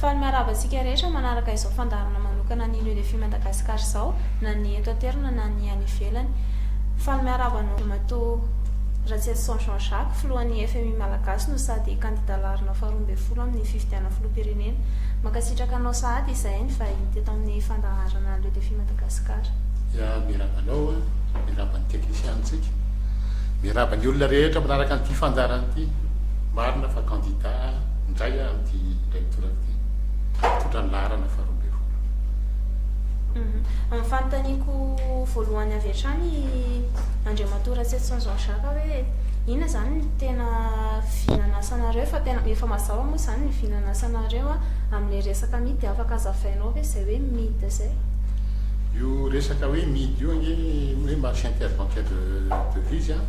Faly miarahaba antsika rehetra manaraka izao fandaharana manokana ny Nudefi Madagascar izao, na ny eto an-toerana na ny any ivelany. Faly miarahaba anao Ramatoa Ratsielison Jean Jacques, Filohan'ny fmi Malagasy no sady kandida laharana faharoa ambin'ny folo amin'ny fifidianana Filoham-pirenena. Mankasitraka anao sahady izahay nivahiny teto amin'ny fandaharana Nudefi Madagascar. Ya, miarahaba anao an, miarahaba ny teknisianintsika, miarahaba ny olona rehetra manaraka an'ity fandaharana ity. Marina fa kandida. indray aho amin'ity lecture ity, mitondra ny laharana faharoa ambin'ny folo. Ny fanontaniako voalohany avy hatrany Andriamatoa Ratsirison Jean Jacques hoe inona izany no tena vy nanasanareo fa tena efa mazava moa izany ny vy nanasanareo amin'ilay resaka midy dia afaka hazavainao ve izay hoe midy izay? Io resaka hoe midy io ange hoe marché interbancaire de devises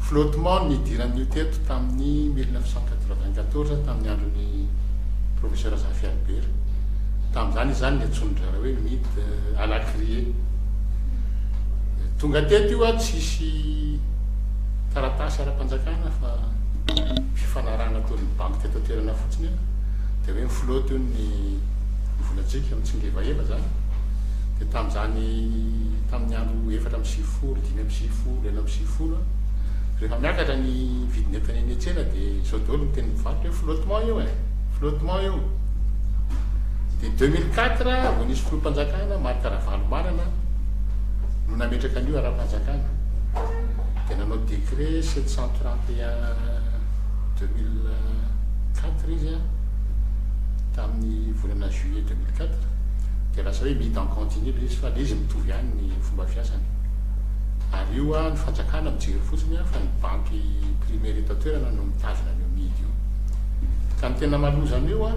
flottement no nidiran'ny io teto tamin'ny Ny mille neuf cent quatre-vingt-quatorze tamin'ny andron'ny Profesera Zafy Albert. Tamin'izany izany ny antsonin-draharaha hoe mit à la criée. Tonga teto io an, tsisy taratasy ara-panjakana fa fifanarahana ataon'ny banky teto an-toerana fotsiny an, dia hoe mi-flotte io ny volantsika, mitsingevaheva izany. Dia tamin'izany, tamin'ny andro efatra amby sivifolo, dimy amby sivifolo, enina amby sivifolo an, rehefa miakatra ny. ny vidin'entana eny an-tsena dia izao daholo ny teny mpivarotra hoe flottement io e, flottement io. Dia 2004 vao nisy filoham-panjakana Marc Ravalomanana no nametraka an'io ara-panjakana. Dia nanao décret 731-2004 izy a, tamin'ny volana juillet 2004. Dia lasa hoe mid en continu ilay izy fa ilay izy mitovy ihany ny fomba fiasany. Ary io a ny fanjakana mijery fotsiny a fa ny banky primaire eto an-toerana no mitazona an'io mihidy io. Ka ny tena maloza an'io a,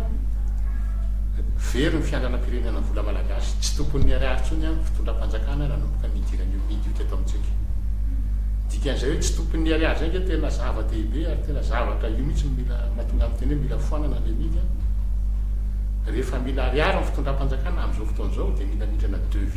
very ny fiandranam-pirenena ny vola malagasy, tsy tokon'ny ariary intsony a ny fitondram-panjakana nanomboka nidiran'io mihidy io teto amintsika. Ny dikan'izay hoe tsy tokon'ny ariary izay ange tena zava-dehibe ary tena zavatra io mihitsy no mila mahatonga miteny hoe mila foanana ilay mihidy a. Rehefa mila ariary ny fitondram-panjakana amin'izao fotoana izao dia mila mindrana devis.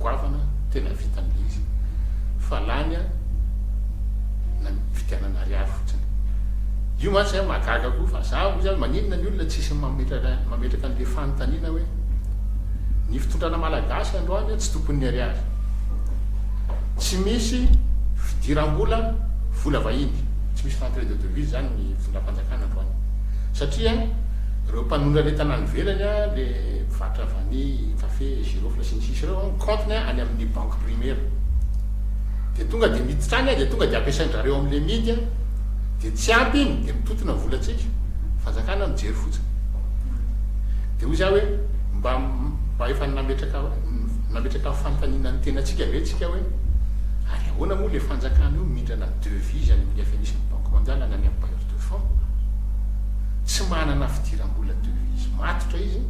goavana tena vita amle izy fa lany a na vidianana ariary fotsiny io mantsy zay mahagaga koa fa za ozy maninona ny olona tsisy mametraka mametraka anle fanontaniana hoe ny fitondrana malagasy androany tsy tompon'ny ariary tsy misy fidirambola vola vahiny tsy misy rentrée de devise zany ny fitondram-panjakana androany satria reo mpanondrana entana any velany a le mpivarotra vani kafe girofle sy ny sisa ireo an, ny compte-ny any amin'ny banque primaire dia tonga dia miditra any dia tonga dia ampiasain-drareo amin'ilay midy an, dia tsy ampy iny dia mitotona ny volantsika, fanjakana mijery fotsiny, dia hoy za hoe mba mba efa nametraka nametraka fanontaniana ny tenantsika ve tsika hoe ary ahoana moa ilay fanjakana io mindrana devise any amin'ny FMI sy ny banque mondiale na ny amin'ny bailleur de fonds tsy manana fidiram-bola devise matotra izy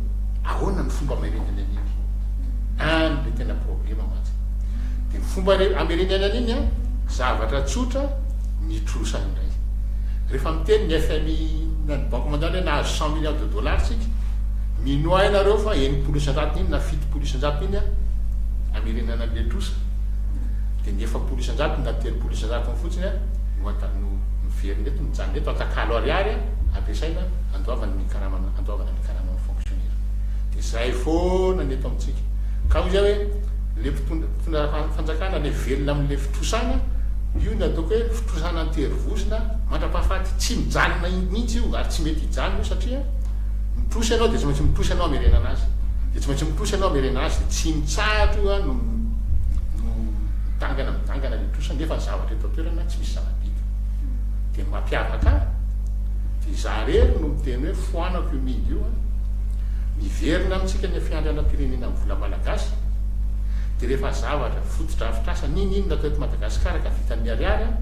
ahoana ny fomba mailena iny any le tena problema mantsy de fomba re amerenena an'iny an zavatra tsotra mitrosa indray rehefa miteny ny FMI na ny banque mondiale hoe nahazo cent milliards de dollars tsika minoa hainareo fa enimpolo isan-jatony iny na fitopolo isan-jatony iny an amerenana an'le trosa de ny efapolo isan-jatony na telopolo isan-jatony fotsiny an no anta- no miverina eto mijanona eto atakalo ariary an ampiasaina andoavana ny karamana andoavana ny karamana fonctionnaire de zay foana ny eto amintsika ka hoy zay hoe le mpitondra mpitondra fanjakana le velona amle fitrosana io ny ataoko hoe fitrosana anterivozona mandrapahafaty tsy mijanona mihitsy io ary tsy mety hijanona io satria mitrosa ianao de tsy maintsy mitrosa ianao amerenana azy de tsy maintsy mitrosa ianao amerenana azy de tsy mitsahatra io no no midangana midangana le trosa nefa ny zavatra eto an-toerana tsy misy zava-bita de mampiavaka de za rery no miteny hoe Tohanako io Mindy io an! Miverina amintsika ny fiandrianam-pirenena amin'ny vola malagasy dia rehefa zavatra fotodrafitrasa ninoninona teto Madagasikara ka vitan'ny ariary an!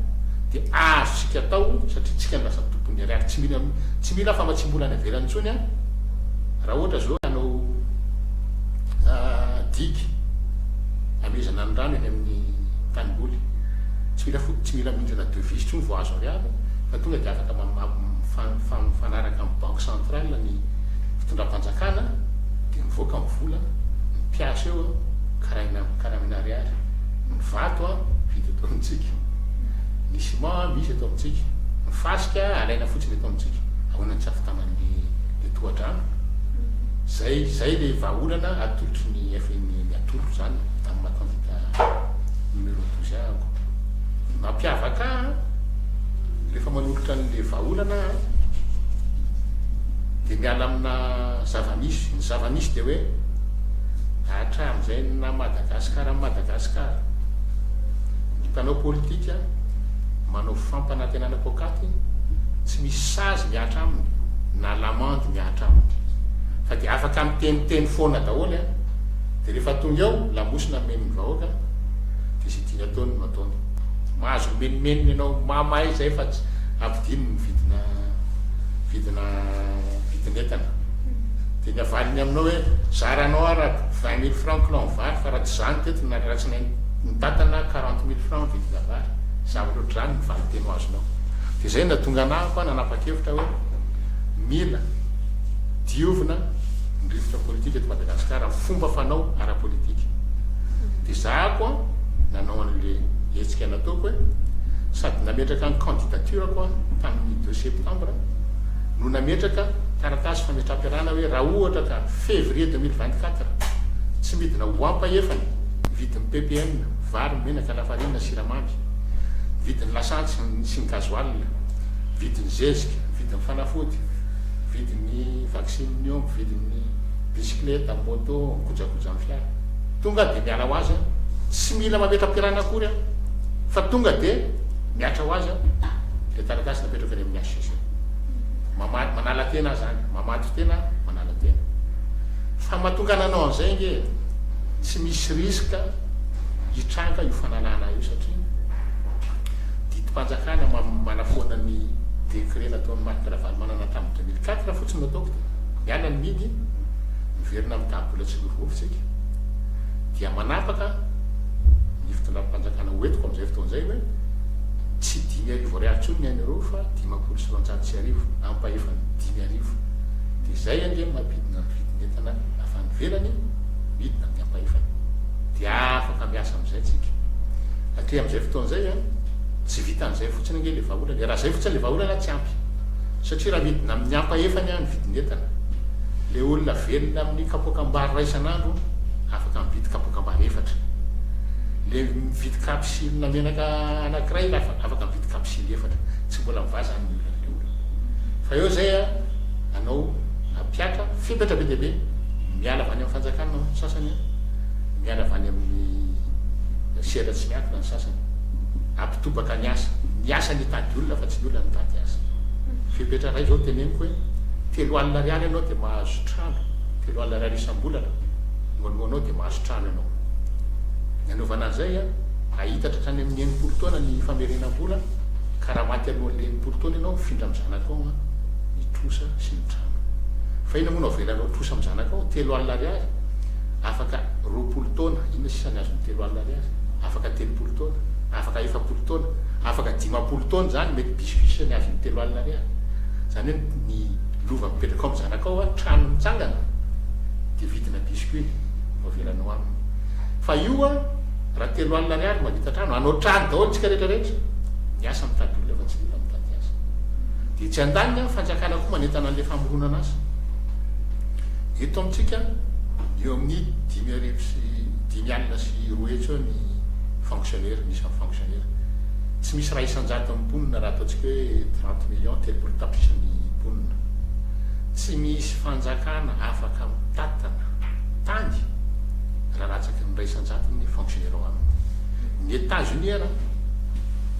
dia azontsika atao satria tsika no lasa tompon'ny ariary tsy mila tsy mila famatsiam-bola any ivelany intsony an! raha ohatra zao hanao digue hamezana ny rano eny amin'ny tanimboly tsy mila tsy mila mihindrina devise intsony vao azo ariary fa tonga dia afaka fa mifanaraka amin'ny banque centrale ny fitondram-panjakana dia mivoaka ny vola, ny mpiasa eo karahina amin'ny karamina ariary, ny vato vita eto amintsika, ny ciment misy eto amintsika, ny fasika alaina fotsiny eto amintsika, ahoana ny tsy havitanan'ny le tohadrano? zay zay le vahaolana atolotry ny FMI ny atolotro zany amin'ny maha candidat numéro douze ahy ako, ny mampiavaka ahy an! Rehefa manolotra an'ilay vahaolana aho dia miala amina zava-misy. Ny zava-misy dia hoe hatramin'izay ny naha Madagasikara an'i Madagasikara, ny mpanao politika manao fampanantenana poakaty tsy misy sazy mihatra aminy na lamandy mihatra aminy fa dia afaka miteniteny foana daholo dia rehefa tonga eo lamosina ameny ny vahoaka dia izay ny ataony no ataony. Mahazo mimenomenona ianao mama e zay fa tsy ampidino ny vidina vidina vidin'entana. Dia ny havaliny aminao hoe zaranao ara vingt mille francs kilao ny vary fa raha tsy zany teto na raha tsy nain ny tatana quarante mille francs ny vidina vary. Zavatra ohatr'izany ny valinteny ho azonao. Dia zay no nahatonga anah koa nanapa-kevitra hoe mila diovina ny rivotra politika eto Madagasikara amin'ny fomba fanao ara-politika. Ezahako an nanao anle hetsika nataoko e, sady nametraka ny candidature ko aho tamin'ny deux septembre no nametraka taratasy fametraham-piarahana hoe raha ohatra ka février deux mille vingt quatre tsy midina ho ampahefany ny vidin'ny ppn, vary, menaka, lafarinina, siramamy, vidin'ny lasantsy sy ny gasoil, vidin'ny zezika, vidin'ny fanafody, vidin'ny vaccine ny omby, vidin'ny bisikileta, moto, kojakojan'ny fiara. Tonga dia miala ho azy aho, tsy mila mametra-piarahana akory aho, fa tonga dia mihatra ho azy aho. Ilay taratasy napetrako eny amin'ny HCC. Mamaly, manala tena aho izany, mamaly tena aho, manala tena. Fa mahatonga nanao an'izay ange, tsy misy risque hitranga io fanalana ahy io satria didim-panjakana manafoana ny décret nataon'i Marc Ravalomanana tamin'ny 2004 fotsiny no ataoko, miala ny midi, miverina amin'ny tahabola tsy mivovo tsika. dia manapaka ny fitondram-panjakana ho entiko amin'izay fotoana izay hoe tsy dimy arivo ariary intsony ny an'ireo fa dimampolo sy roanjato sy arivo ampahefany dimy arivo dia izay ange no mampidina ny vidin'entana avy any ivelany midina amin'ny ampahefany dia afaka miasa amin'izay tsika hatreha amin'izay fotoana izay a tsy vitan'izay fotsiny ange ilay vahaolana e raha izay fotsiny ilay vahaolana tsy ampy Satria raha midina amin'ny ampahefany aho ny vidin'entana, ilay olona velona amin'ny kapoakam-bary iray isan'andro afaka mividy kapoakam-bary efatra. Ilay mividy kapisilina menaka anankiray lafa afaka mividy kapisily efatra. Tsy mbola mivaha izany ny olan'ilay olona. Fa eo izay an, anao nampiatra fepetra be dia be, miala avy any amin'ny fanjakana ny sasany an, miala avy any amin'ny sehatra tsy miankina ny sasany. Tobaka ny asa. Ny asa ny hitady olona fa tsy ny olona ny hitady asa. Fepetra iray izao teneniko hoe telo alina ariary ianao dia mahazo trano, telo alina ariary isam-bolana no aloanao dia mahazo trano ianao. Ny anaovana an'izay a, ahitatra hatrany amin'ny enimpolo taona ny famerenam-bola ka raha maty alohan'ny enimpolo taona ianao mifindra amin'ny zanakao ny trosa sy ny trano. Fa inona moa no avelanao trosa amin'ny zanakao? Telo alina ariary? Afaka roapolo taona. Inona sisa ny azon'ny telo alina ariary? Afaka telopolo taona. afaka efapolo taona, afaka dimampolo taona izany mety bisy f'isa ny azon'ny telo alina ariary. Izany hoe ny lova mipetraka ao amin'ny zanakao an, trano mitsangana dia vidina bisy ko iny no avelanao aminy. Fa io an, raha telo alina ariary no mahavita trano, hanao trano daholo tsika rehetra rehetra. Ny asa mitady olona fa tsy ny olona mitady asa. Dia etsy andaniny an, fanjakana koa manentana an'ilay famoronana asa. Eto amintsika an, eo amin'ny dimy arivo sy dimy alina sy roa hetsy eo ny. fonctionnaires, ny isan'ny fonctionnaires. Tsy misy iray isan-jaton'ny mponina raha ataontsika hoe trente millions, telopolo tapitrisa ny mponina. Tsy misy fanjakana afaka mitatana tany raha latsaky ny iray isan-jatony ny fonctionnaires ao aminy. Ny Etats-Unis ary,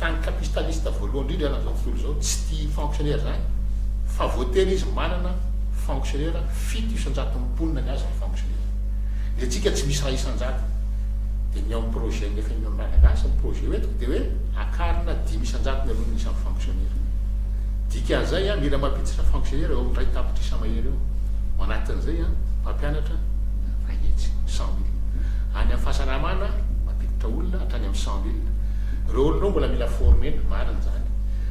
tany capistaliste voalohany indrindra eran'izao tontolo izao, tsy tia fonctionnaires izany fa voatery izy manana fonctionnaires fito isan-jaton'ny mponina ny azy ny fonctionnaires. Ny antsika tsy misy raha isan-jato. Dia ny ao amin'ny projet ny FMI Malagasy, ny projet hoentiko dia hoe akarina dimy isan-jato ny aloan'ny isan'ny fonctionnaire. Dikan'izay an, mila mampiditra fonctionnaire eo amin'ny iray tapitrisa mahery eo. Ao anatin'izay an, mpampianatra iray hetsy, cent mille. Any amin'ny fahasalamana, mampiditra olona hatrany amin'ny cent mille. Ireo olona ao mbola mila former-na, marina izany.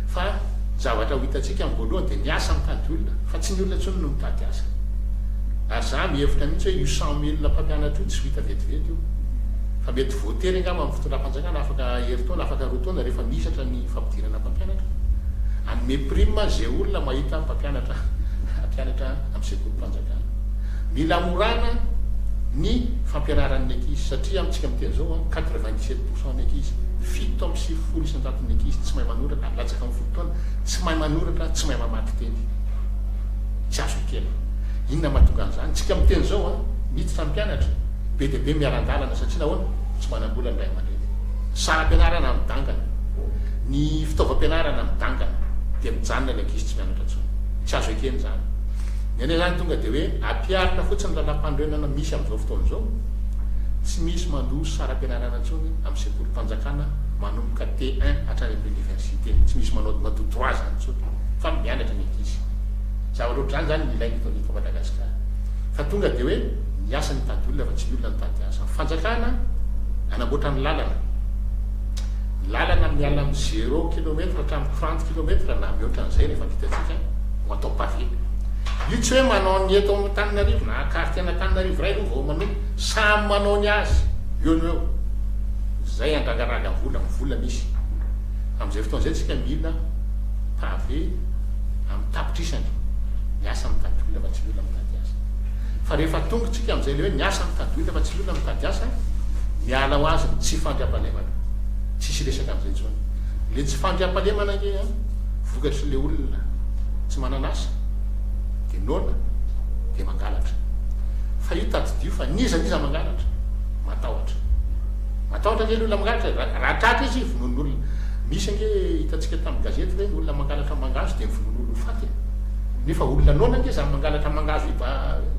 Fa ny zavatra ho hitantsika amin'ny voalohany dia ny asa mitady olona, fa tsy ny olona intsony no mitady asa. ary za mihevitra mihitsy hoe io cent mille mpampianatra io tsy ho hita vetivety io fa mety voatery angamba amin'ny fitondram-panjakana afaka herintaona afaka roa taona rehefa mihisatra ny fampidirana mpampianatra hanome prime ze olona mahita mpampianatra hampianatra amin'ny sekolim-panjakana mila hamorana ny fampianaran'ny ankizy satria amintsika miteny zao a quatre vingt dix sept pourcent ny ankizy fito amby sivifolo isan-jaton'ny ankizy tsy mahay manoratra latsaka amin'ny folo taona tsy mahay manoratra tsy mahay mamaky teny tsy azo ekena. Inona mahatonga an'izany? Tsika miteny izao a, miditra ny mpianatra, be dia be miaran-dalana satria nahoana? Tsy manam-bola ny ray aman-dreny. Saram-pianarana midangana, ny fitaovam-pianarana midangana, dia mijanona ny ankizy tsy mianatra intsony. Tsy azo ekena izany. Ny anay izany tonga dia hoe ampiharina fotsiny ny lalàmpanorenana misy amin'izao fotoana izao. Tsy misy mandroso saram-pianarana intsony amin'ny sekolim-panjakana manomboka T1 hatrany amin'ny oniversite. Tsy misy manao matoa trois ans intsony fa mianatra ny ankizy. Zavatra ohatr'izany izany no ilain'ny eto Madagasikara. Fa tonga dia hoe miasa ny mitady olona fa tsy ny olona mitady asa. Ny fanjakana hanamboatra ny lalana. Ny lalana miala amin'ny zéro kilometre hatramin'ny trente kilometre na mihoatra an'izay rehefa vita antsika no atao pavé. Io tsy hoe manao ny eto Antananarivo na quartier an'Antananarivo iray aloha vao manomboka. Samy manao ny azy eo no eo. Izay handrangaraga vola, ny vola misy. Amin'izay fotoana izay isika mila pavé amin'ny tapitrisany, miasa mitady olona fa tsy ny olona mitady asa. Fa rehefa tonga isika amin'izay ilay hoe miasa mitady olona fa tsy ny olona mitady asa, miala ho azy ny tsy fandriampahalemana. Tsisy resaka amin'izay intsony. Ilay tsy fandriampahalemana ange an, vokatry ilay olona tsy manana asa, dia noana, dia mangalatra. Fa io tadidio fa n'iza n'iza mangalatra, matahotra. Matahotra kely olona mangalatra e! Raha tratra izy vonoin' olona. Nisy ange hitantsika tamin'ny gazety ve ny olona mangalatra mangahazo dia vonoin' olona ho faty e! Nefa olona noana ange izany mangalatra mangahazo iva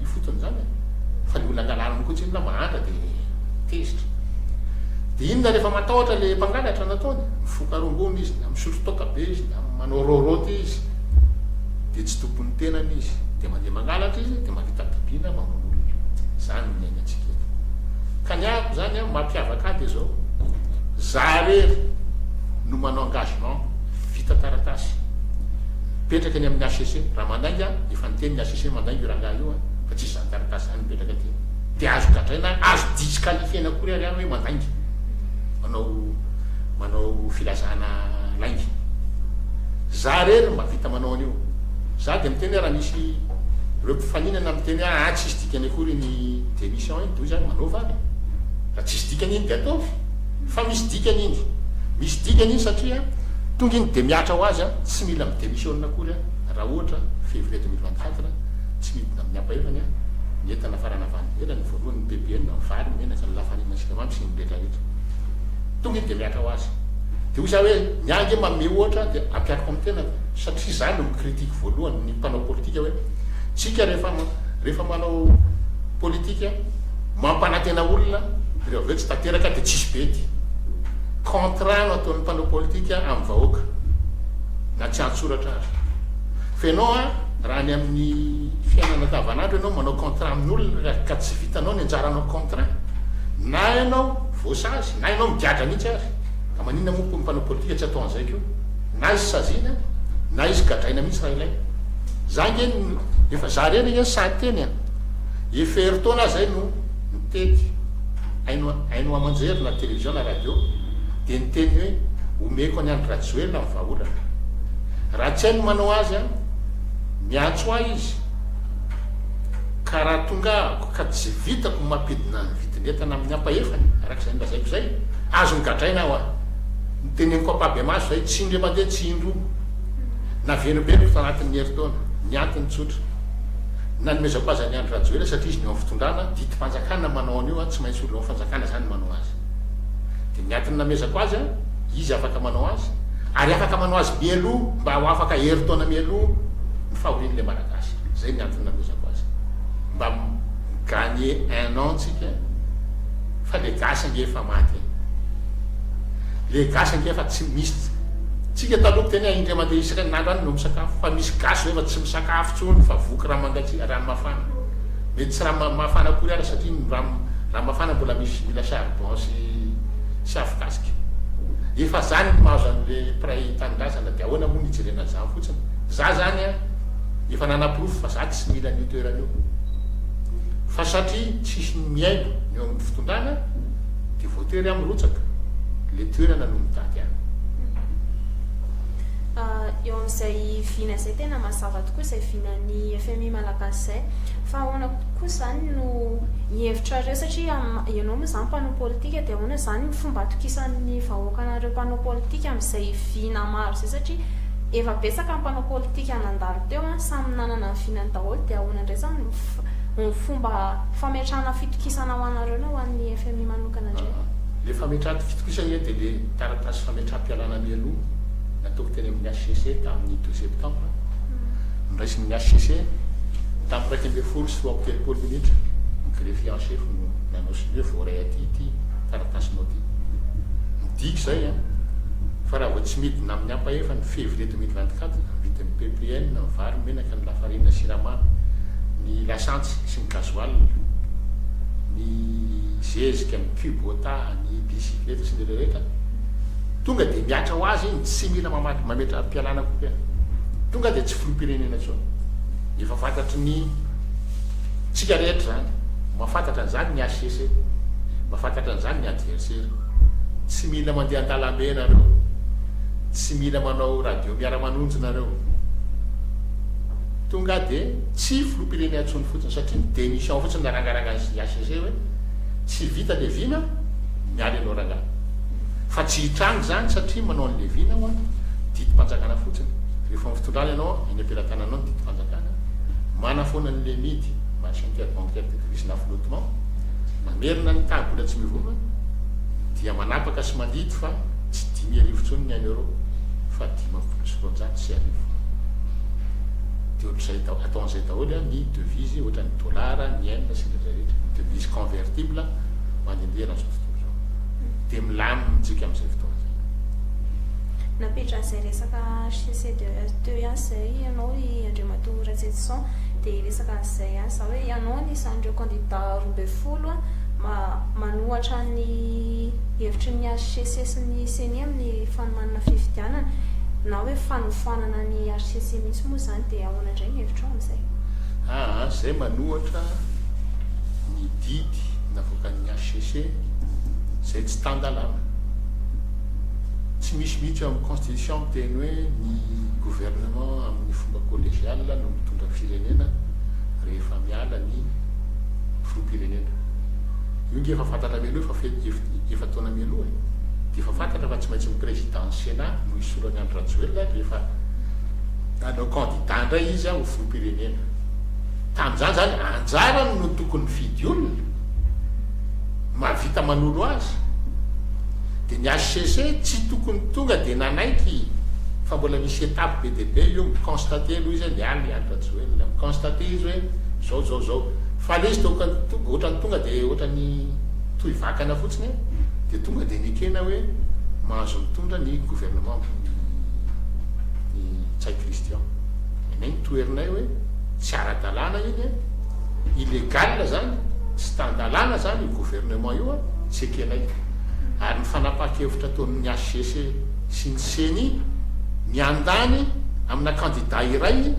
ifotony izany e! Fa ny olona angalana moa koa tsy inona mahantra dia tezitra. Dia inona rehefa matahotra ilay mpangalatra no ataony? Mifoka rongony izy, na misotro toaka be izy, na manao rôrôty izy, dia tsy tompon'ny tenany izy. Dia mandeha mangalatra izy dia mahavita bibiana mamono olona. Izany no niainantsika eto. Ka ny ahy. Zany an mampiavaka ahy dia zao, za rery no manao engagement vita taratasy mipetraka any amin'ny HCC, raha mandainga aho dia efa niteny ny HCC mandainga io rangahy io an fa tsisy zany taratasy zany mipetraka aty dia azo gadraina azo disqualifiena akory ary aho hoe mandainga manao manao filazana lainga za rery mba vita manao an'io za dia miteny hoe raha misy ireo mpifaninana miteny hoe ah tsisy dikany akory ny démission iny toy izany manaova ary raha tsisy dikany iny dia ataovy fa misy dikany iny misy dikany iny satria tonga iny dia mihatra ho azy an tsy mila mi démissiona akory an raha ohatra février deux mille vingt quatre tsy midina amin'ny ampahefany an ny entana fa raha navandy ivelany ny voalohany ny ppn ny vary ny menaka ny lafarina ny siramamy sy ny rehetra rehetra tonga iny dia mihatra ho azy dia hoy za hoe ny ahy nge manome ohatra dia ampihariko amin'ny tenako satria za no mi critique voalohany ny mpanao politika hoe Tsika rehefa rehefa manao politika mampanantena olona dia avy eo tsy tanteraka dia tsisy bedy. Contrat no ataon'ny mpanao politika amin'ny vahoaka na tsy an-tsoratra aza. Fa ianao a, raha any amin'ny fiainana andavanandro ianao manao contrat amin'olona ka tsy vitanao ny anjaranao contrat, na ianao voasazy na ianao migadra mihitsy ary, ka maninona moa koa ny mpanao politika tsy atao an'izay koa? Na izy saziana na izy gadraina mihitsy raha ilaina. Za ange no efa za reny ange no sahy teny a! Efa herintaona aho zay no nitety haino haino aman-jery na télévision na radio dia niteny hoe omeko an'i Andry Rajoelina ny vahaolana. Raha tsy hainy ny manao azy an! Miantso ahy izy ka raha tonga ahako ka tsy vitako ny mampidina ny vidin'entana amin'ny ampahefany araka izay nolazaiko izay, azony gadraina aho a! Ny teneniko ampahibemaso izay, tsy indray mandeha, tsy indroa, naverimberiniko tao anatin'ny herintaona. Ny antony tsotra. Nanomezako azy an'i Andry Rajoelina satria izy no eo amin'ny fitondrana, didim-panjakana ny manao an'io, tsy maintsy olona ao amin'ny fanjakana izany no manao azy. Dia ny antony namezako azy, izy afaka manao azy, ary afaka manao azy mialoha mba ho afaka herintaona mialoha ny fahorian'ilay Malagasy. Izay ny antony namezako azy. Mba mi-gagner un an tsika, fa ilay gasy ange efa maty e. Le gasy ange efa tsy misy tsika taloha miteny hoe indray mandeha iserin'andro any no misakafo fa misy gasy zao efa tsy misakafo tsony fa voky ranomangantsia rano mafana mety tsy rano mafana akory ara satria ny rano rano mafana mbola misy mila charbon sy sy afokasika efa zany ny mahazo anle mpiray tanindrazana de ahoana moa ny hijerena an'zany fotsiny za zany an efa nanaporofo fa za tsy mila an'io toerana io fa satria tsisy ny mihaino ny eo amin'ny fitondrana de voatery aho mirotsaka, le toerana no mitady ahy. Eo amin'izay vina izay tena mazava tokoa izay vinan'ny fmi malagasy izay fa ahoana koa izany no hihevitrareo satria ianao moa izany mpanao politika dia ahoana izany ny fomba atokisan'ny vahoaka anareo mpanao politika amin'izay vina maro izay satria efa betsaka ny mpanao politika nandalo teo an, samy nanana ny vinany daholo dia ahoana indray izany no Ny fomba fametrahana fitokisana ho anareo na ho an'ny fmi manokana indray? Aa, ilay fametrahana fitokisana indray dia ilay taratasy fametraham-pialana mialoha nataoko teny amin'ny HCC tamin'ny douze septembre, noraisin'ny HCC tamin'ny iraika ambin'ny folo sy roa amby telopolo minitra, ny greffier en chef no nanao sonia hoe voaray aty ity taratasinao ity. Midika izay an! Fa raha vao tsy midina amin'ny ampahefan'ny février deux mille vingt-quatre ny vidin'ny ppn, ny vary, ny menaka. ny lafarinina sy siramamy, ny lasantsy sy ny gasoil, ny zezika, ny kubota, ny bisikileta sy ny ireo rehetra, tonga dia mihatra ho azy iny, tsy mila mamaky mametra-pialana koa hoe tonga dia tsy filoham-pirenena intsony. Efa fantatry ny tsika rehetra izany, mahafantatra an'izany ny HCC, mahafantatra an'izany ny adversaire. Tsy mila mandeha an-dalambe ianareo, tsy mila manao radio. Miara manonjy nareo. Tonga de tsy filoham-pirenena intsony fotsiny satria ny démission fotsiny narangaranga ny HCC hoe tsy vita le vina, miala ianao rangah. Fa tsy hitranga izany satria manao an'le vina hoa didim-panjakana fotsiny. Rehefa amin'ny fitondrana ianao eny am-pelatananao ny didim-panjakana, manafoana an'le mid, marché interbancaire de crise na flottement, mamerina ny taha bola tsy mivoma, dia manapaka sy mandidy fa. Tsy dimy arivo intsony ny an'ny Euro fa dimampolo sy roanjato sy arivo. Dia ohatr'izay daholo, ataon'izay daholo ny devises ohatran'ny ny dollars, ny yen sy ny rehetra rehetra, ny devises convertibles mandehandeha eran'izao tontolo izao. Dia milamina amintsika amin'izay fotoana izay. Nampidran'izay resaka HCCDE teo ihany izay ianao i Andriamatoa Ratsejison, dia hiresaka an'izay ihany izaho hoe ianao anisan'ireo candidats roa ambin'ny folo manohatra ny. hevitry ny hcc sy ny ceni amin'ny fanomanana fifidianana na hoe fanofanana ny hcc mihitsy moa izany dia ahoana indray ny hevitrao amin'izay? Aa, izay manohatra ny didy navoakan'ny hcc izay tsy tan-dalàna. Tsy misy mihitsy eo amin'ny constitution miteny hoe ny gouvernement amin'ny fomba collegial no mitondra firenena rehefa miala ny filoham-pirenena. Io nge efa fantatra mialoha efa fety efa-taona mialoha e! Dia efa fantatra fa tsy maintsy ny président ny Sénat no hisolo an'i Andry Rajoelina rehefa hanao candidat indray izy ho filoham-pirenena. Tamin'izany izany anjarany no tokony mifidy olona mahavita manolo azy. Dia ny HCC tsy tokony tonga dia nanaiky fa mbola misy étape be dia be io mi-constater aloha izy hoe miala i Andry Rajoelina, mi-constater izy hoe zao zao zao. fa le izy to ka otrany tonga de otrany toy vakana fotsiny de tonga de nekena hoe mahazo mitondra ny gouvernement ny Ntsay Christian nenay ny toherinay hoe tsy ara-dalàna iny a, illégal zany, tsy tan-dalàna zany io gouvernement io a, tsy ekenay ary ny fanapahan-kevitra ataon'ny HCC sy ny ceni miandany amina candidat iray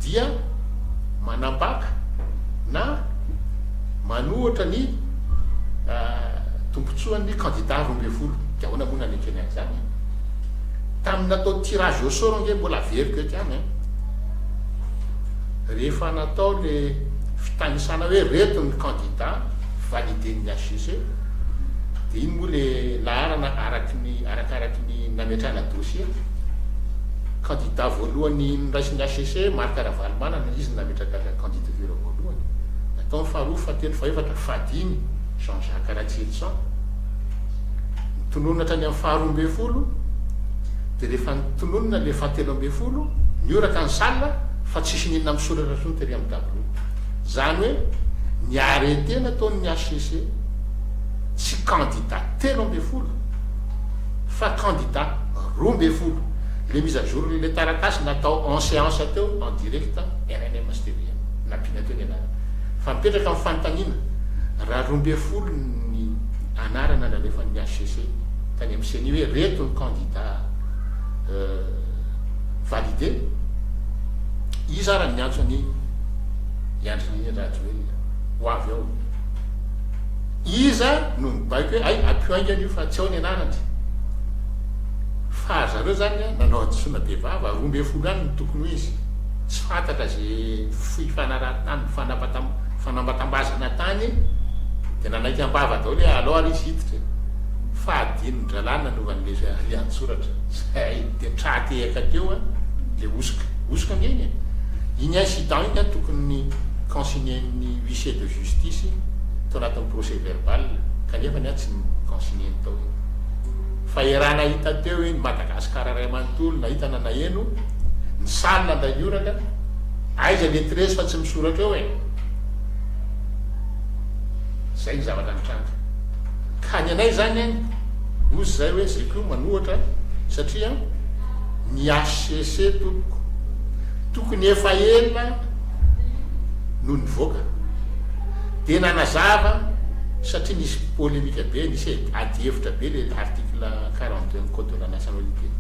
dia. manambaka na manohitra ny tombontsoan'ny kandida roa ambin'ny folo, dia ahoana moa no hanekeny an'izany e? Tamin'ny natao tirage au sort ange mbola averiko eto ihany an! Rehefa natao le fitanisana hoe reto ny kandida validen'ny HCC, dia iny moa le laharana araky ny arakaraky ny nametrahana dossier. kandida voalohany noraisin'ny hcc, Marc Ravalomanana, izy no nametraka ny candidature voalohany, nataony faharoa, fahatelo, fahefatra, fahadimy, Jean Jacques Ratsietson, notononina hatrany amin'ny faharoa ambin'ny folo, dia rehefa notononina ilay fahatelo ambin'ny folo, nihoraka ny salle fa tsisy n'inona misoratra intsony tery amin'ny tableau. Izany hoe ny arrêté nataon'ny hcc, tsy kandida telo ambin'ny folo, Fa kandida roa ambin'ny folo le mise à jour n'ilay taratasy natao en séance teo en direct rnm sy tvm nampiana teo ny anarana. Fa mipetraka ny fanontaniana raha roa ambin'ny folo ny anarana nalefan'ny HCC tany amin'ny ceni hoe reto ny kandida valide? Iza ary niantso an'i Andry Nirina Rajoelina ho avy ao? Iza no nibaiko hoe hay ampio haingana io fa tsy ao ny anarany? Fa ry zareo zany a nanao hadisoana be vava, roa ambin'ny folo any no tokony ho izy, tsy fantatra ze foy fanaraha tany fanambatambazana tany de nanaiky ambava daholo hoe alao ary izy hiditra e! fa adinony dralahy nanovany le riantsoratra zay de tra tehaka teo a le hosoka, hosoka ange iny e! iny incident iny a tokony consigner ny huissier de. justice tao anatin'ny procès verbal kanefa ny ahy tsy consigner ny tao iny fa eran nahita teo iny Madagascar ray manontolo nahita na naheno ny salle andainioraka aiza lettres fa tsy misoratra eo eh zay ny zavatra nitranga ka ny anay zany any ozy zay hoe zay ko manohatra satria ny HCC tompoko tokony efa ela no nivoaka dia nanazava satria nisy polemika be, nisy ady hevitra be le article quarante deux ny code de la nationalité iny.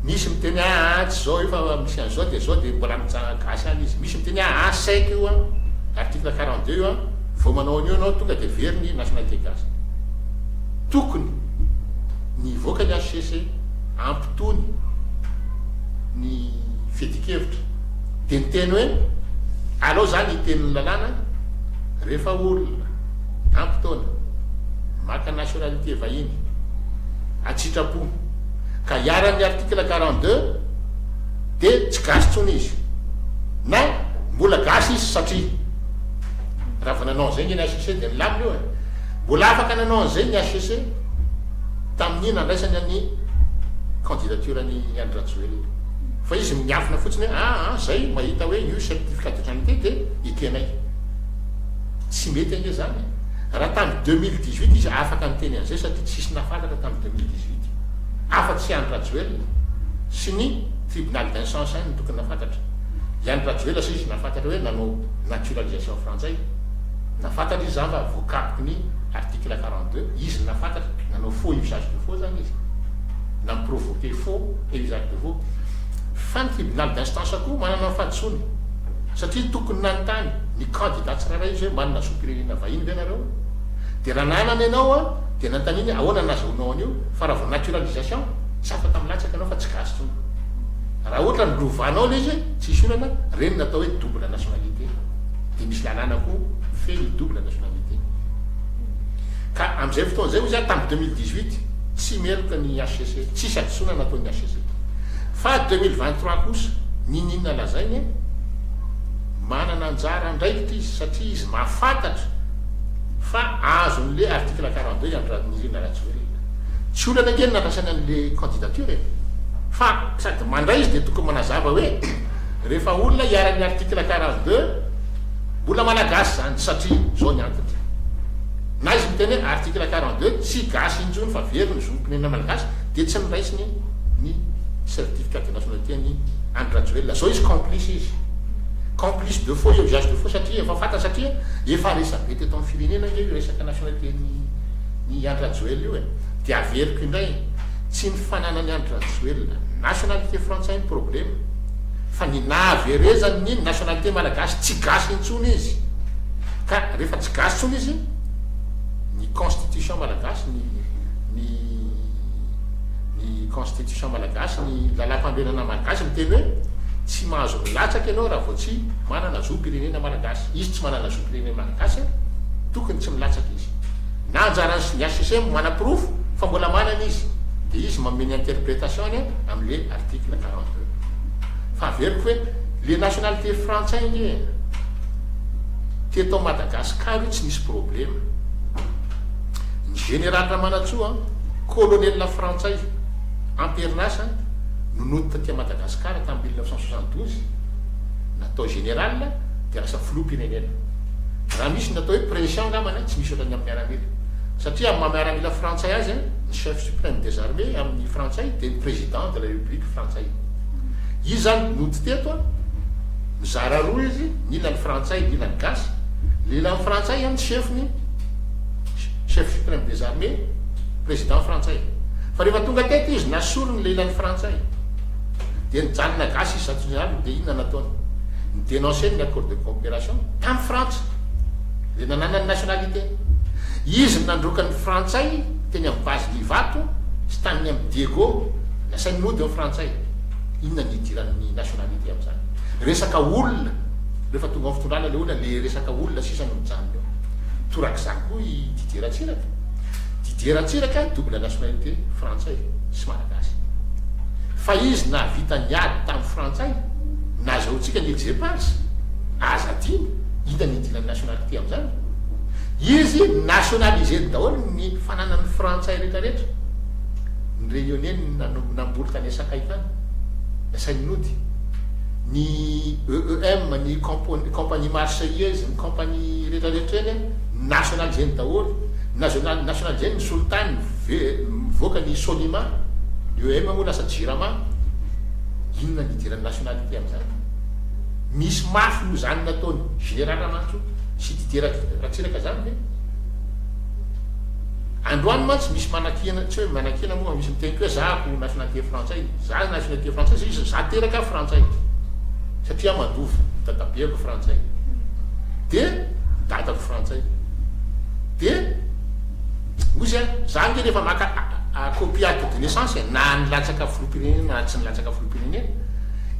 Misy miteny aa tsy zao io fa misy an'izao dia zao dia mbola mijanona gasy any izy. Misy miteny aa sec io an, article quarante deux io an, vao manao an'io ianao tonga dia very ny nationalité gasy. Tokony ny hivoaka ny HCC hampitony ny fiadian-kevitra. Dia niteny hoe, Alao izany hiteny ny lalàna rehefa olona ampy taona, maka nationalité vahiny an-tsitrapo ka iharan'ny article quarante deux dia tsy gasy intsony izy na mbola gasy izy satria raha vao nanao an'izay ny hcc dia nilamina io e! Mbola afaka nanao an'izay ny hcc tamin'ny nandraisany ny candidature an'i Andry Rajoelina. Fa izy miafina fotsiny hoe ah ah zay mahita hoe io certificat d'identité de i tenay. Tsy mety ange zany e. Raha tamin'ny deux mille dix huit izy afaka niteny an'izay satria tsisy nahafantatra tamin'ny deux mille dix huit afa tsy i Andry Rajoelina sy ny tribunal d'incence any no tokony nahafantatra. I Andry Rajoelina sa izy nahafantatra hoe nanao naturalisation frantsay? Nahafantatra izy zany fa voakapky ny article quarante deux izy nahafantatra nanao faux usage de faux zany izy. Namprovoquer faux et usage de. Oh. Fanty i Bilal Dastans koa manana ny fahadisoany. Satria tokony nanontany ny kandida tsirairay izy hoe manana zom-pirenena vahiny ve nareo? Dia raha nanana ianao an, dia nanontaniany hoe ahoana no nazahoanao an'io? Fa raha vao naturalisation, tsy afaka milatsaka ianao fa tsy gasy intsony. Raha ohatra ny lovanao ilay izy, tsisy olana, ireny no atao hoe double nationalité. Dia misy lalàna koa mifehy ny double nationalité. Ka amin'izay fotoana izay hoy izy aho tamin'ny deux mille dix-huit, tsy meloka ny HCC. Tsisy hadisoana nataon'ny HCZ. Fa ady deux mille vingt trois kosa, niniana lazaina e? Manana anjara andraikitra izy satria izy mahafantatra fa azon'le article quarante deux i Andry Nirina Rajoelina. Tsy olana ange ny nandrasany an'le candidature e! Fa sady mandray izy dia tokony manazava hoe rehefa olona iharan'ny article quarante deux mbola malagasy izany satria izao ny antony. Na izy miteny hoe article quarante deux tsy gasy intsony fa very ny zo. Ny anay Malagasy dia tsy noraisiny ny certificat de nationalité an'i Andry Rajoelina. Zao izy complice izy. Complice de faux et usage de faux satria efa fantany satria efa resabe teto amin'ny firenena ange io resaka nationalité n'i n'i Andry Rajoelina io e. Dia averiko indray, tsy ny fananan'i Andry Rajoelina nationalité frantsay ny problema fa ny nahaverezany ny nationalité malagasy tsy gasy intsony izy. Ka rehefa tsy gasy intsony izy, ny constitution malagasy, ny. ny ny constitution malagasy, ny lalam-panorenana malagasy miteny hoe tsy mahazo milatsaka ianao raha vao tsy manana zom-pirenena malagasy. Izy tsy manana zom-pirenena malagasy an, tokony tsy milatsaka izy. Na anjaran'ny sy ny HCCM manaporofo fa mbola manana izy, dia izy manome ny interpretation-ny an, amin'le article quarante deux. Fa averiko hoe le nationalité frantsay ange teto Madagascar io tsy nisy problema. Ny Jeneraly Ramanantsoa, Kolonelina Frantsay, amperinasa, no nody taty Madagasikara tamin'ny mille neuf cent soixante-douze. Natao Jeneraly dia lasa Filoham-pirenena. Raha misy ny atao hoe pression angambany tsy misy ohatran'ny amin'ny miaramila. Satria amin'ny maha miaramila Frantsay azy, ny Chef Supreme des Armées amin'ny Frantsay dia ny Président de la République Frantsay. Izy izany nody teto, mizara roa izy, ny ilany Frantsay, ny ilany Gasy. Ny ilany Frantsay ny Chef-ny. chef supreme des armées, president frantsay. Fa rehefa tonga teto izy na sorony ilay ilany frantsay dia nijanona gasy izy zato jeneraly dia inona nataony? Ni denoncer ny accord de coopération tam frantsa dia nananany nationalité. Izy no nandroaka ny frantsay teny am base ny ivato sy taniny am diego nasainy nody ao frantsay. Inona ny idiran ny nationalité am zany? Resaka olona rehefa tonga ao am fitondrana ilay olona le resaka olona sisa no mijanona eo. Torak'izany koa i Didier Ratsiraka. Didier Ratsiraka double nationalité frantsay sy malagasy. Fa izy nahavita ny ady tamin'ny frantsay, nazahoantsika ny exepages, aza adino, inona no idiran'ny nationalité amin'izany? Izy nationaliser-ny daholo ny fananan'ny frantsay rehetrarehetra. Ny Réunionnais no namboly tany Sakay tany, nasainy nody. Ny EEM, ny compagnie marseillaise, Compagnie rehetra rehetra eny national zeny daholo national national zeny ny solitany mivoaka ny sonima ny oem moa lasa jirama inona ny hidiran'ny nationalité amin'izany misy mafy noho izany nataony general ramantso sy didier ratsiraka zany ve androany mantsy misy manakiana tsy hoe manakiana moa misy miteny koa hoe za ko nationalité frantsay Za nationalité française izy za teraka frantsay satria mandova dadabeako frantsay de dadako frantsay de ozy a za nge rehefa maka copie acte de naissance na nilatsaka filoham-pirenena na tsy nilatsaka filoham-pirenena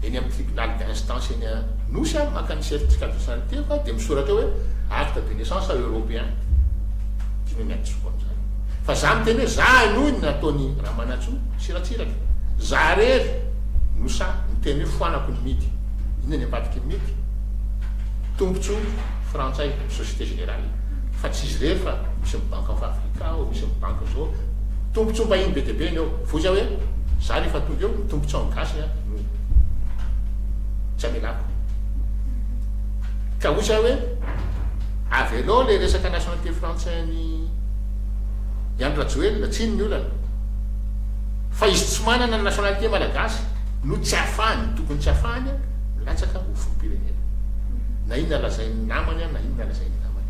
eny amin'ny tribunal d'instance eny Anosy a maka ny certificat de nationalité fa de misoratra hoe acte de naissance européen dimy amin'ny adisoko an'izany fa za miteny hoe za henoy ny nataon'i Ramanantsoa Tsiratsiraka, za rery no sa miteny hoe foanako ny mity, inona ny ambadiky ny mity? Tombontsoa frantsay, société générale, fa tsy izy rery fa misy ny banque of Africa ao, misy ny banque zao, tombontsoa mbahiny be dia be ny ao, voiza hoe za rehefa tonga eo ny tombontsoan'ny gasy no tsy amelako? Ka oiza hoe avelao le resaka nationalité frantsay an'i. I Andry Rajoelina, tsiny ny olana, fa izy tsy manana ny nationalité malagasy no tsy ahafahany, tokony tsy ahafahany, milatsaka ho filoham-pirenena. Na inona lazain'ny namany an, na inona lazain'ny namany.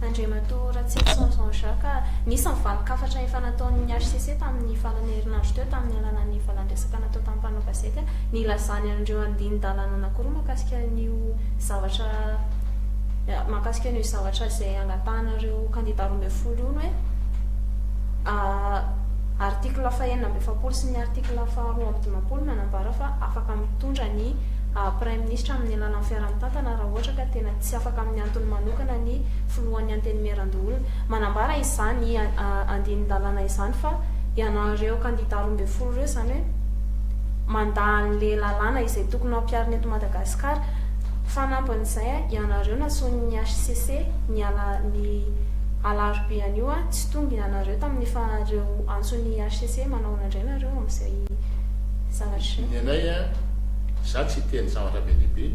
Andriamatoa Ratsietson Jean Jacques, nisy ny valin-kafatra efa nataon'ny hcc tamin'ny farany herinandro teo tamin'ny alalan'ny valan-dresaka natao tamin'ny mpanao gazety nilazany an'ireo andinin-dalàna anankiroa mahakasika an'io zavatra mahakasika an'io zavatra izay angatahanareo kandida roa ambin'ny folo io ny hoe article fahenina amby efapolo sy ny article faharoa amby dimampolo manambara fa afaka mitondra ny praiminisitra amin'ny alalan'ny fiaraha-mitantana raha ohatra ka tena tsy afaka amin'ny antony manokana ny filohan'ny antenimierandoholona. Manambara izany andinin-dalàna izany fa ianareo kandida roa ambin'ny folo ireo izany hoe mandà an'ilay lalàna izay tokony hampiharina eto Madagasikara. Fanampin'izay, ianareo nasonin'ny hcc ny ala ny alarobia anio, tsy tonga ianareo tamin'ny faran'ireo antson'ny hcc, manahoana indray nareo amin'izay zavatra izay? Ny anay, izaho tsy hiteny zavatra be dia be,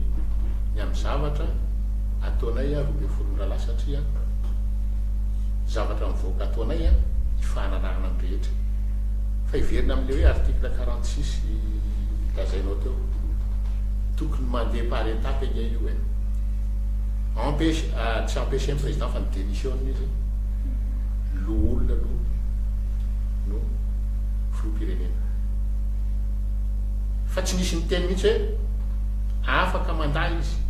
ny amin'ny zavatra ataonay roa ambin'ny folo ora lahy satria zavatra mivoaka ataonay ny fanarahana ny rehetra. Fa hiverina amin'ilay hoe article quarante six lazainao teo. Tokony mandeha par étape anie io e. Empêche ah tsy empêcher ny président fa ny démission-ny izy ny loholona aloha no filoham-pirenena. Fa tsy nisy niteny mihitsy hoe afaka mandà izy.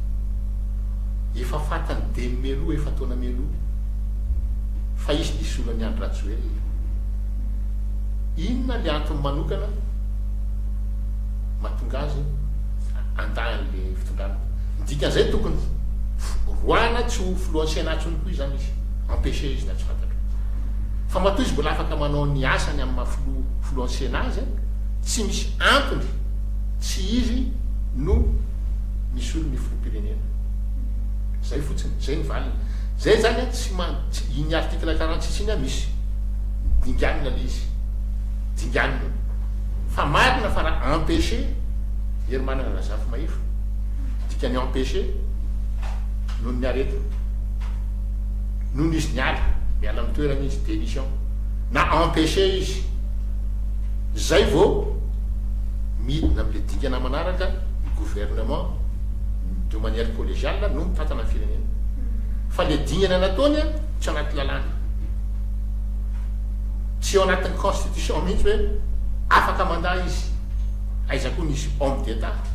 Efa fantany dimy mialoha efa-taona mialoha fa izy no hisolo an'i Andry Rajoelina. Inona le antony manokana? mahatonga azy handà an'ilay fitondrana. Ny dikan'izay tokony roahina tsy ho filohan'ny Sénat intsony koa izany izy, empêcher izy na tsy fantatro. Fa matoa izy mbola afaka manao ny asany amin'ny maha filoha filohan'ny Sénat azy, tsy misy antony tsy izy no misolo ny filoham-pirenena. Izay fotsiny, izay ny valiny. Izay izany tsy tsy iny article quarante six iny misy dinganina ilay izy, dinganina. Fa marina fa raha empêcher, Hery Manana Razafy Mahefa, dikany empêcher noho ny aretina, noho izy niala, miala amin'ny toerany izy, démission, na empêcher izy, izay vao midina amin'ilay dingana manaraka, ny gouvernement, de manière collégiale, no mitantana ny firenena. Fa ilay dingana nataony tsy anaty lalàna. tsy ao anatin'ny constitution mihitsy hoe afaka mandà izy, aiza koa nisy homme d'Etat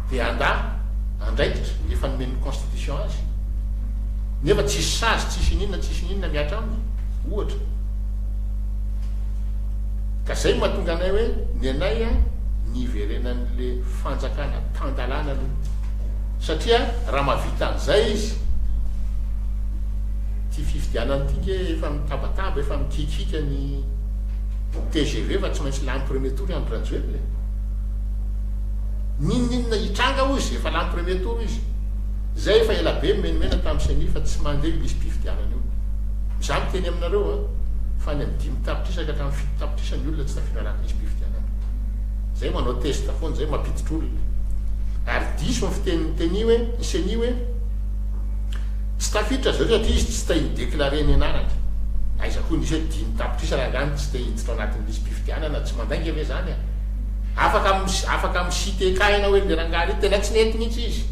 dia handà andraikitra efa nomen'ny constitution azy nefa tsisy sazy tsisy ininona tsisy ininona mihatra aminy ohatra, ka zay no mahatonga anay hoe ny anay an ny hiverenan'le fanjakana tan-dalàna aloha satria raha mahavita an'izay izy, Ty fifidianana ty nge efa mitabataba efa mikikiaka ny tgv fa tsy maintsy lany premier tour Andry Rajoelina e! Ninoninona hitranga hoy izy efa lany premier tour izy? Zay efa ela be mimenimena tam ceni fa tsy mande io lisi-pifidianana io. Za miteny aminareo a! Fa any am dimy tapitrisa ka hatram fito tapitrisa ny olona tsy tafiditra anaty lisi-pifidianana. Zay manao test foana zay mampiditra olona. Ary diso ny fiteniny teni hoe ny ceni hoe Tsy tafiditra zareo satria izy tsy te hi-declarer ny anarany. Aiza koa nisy hoe dimy tapitrisa rangahy no tsy te hiditra ao anatin'ny lisi-pifidianana, tsy mandainga ve zany a? Afaka mi afaka mi-citer cas ianao hoe le rangahy re tena tsy nety mihitsy izy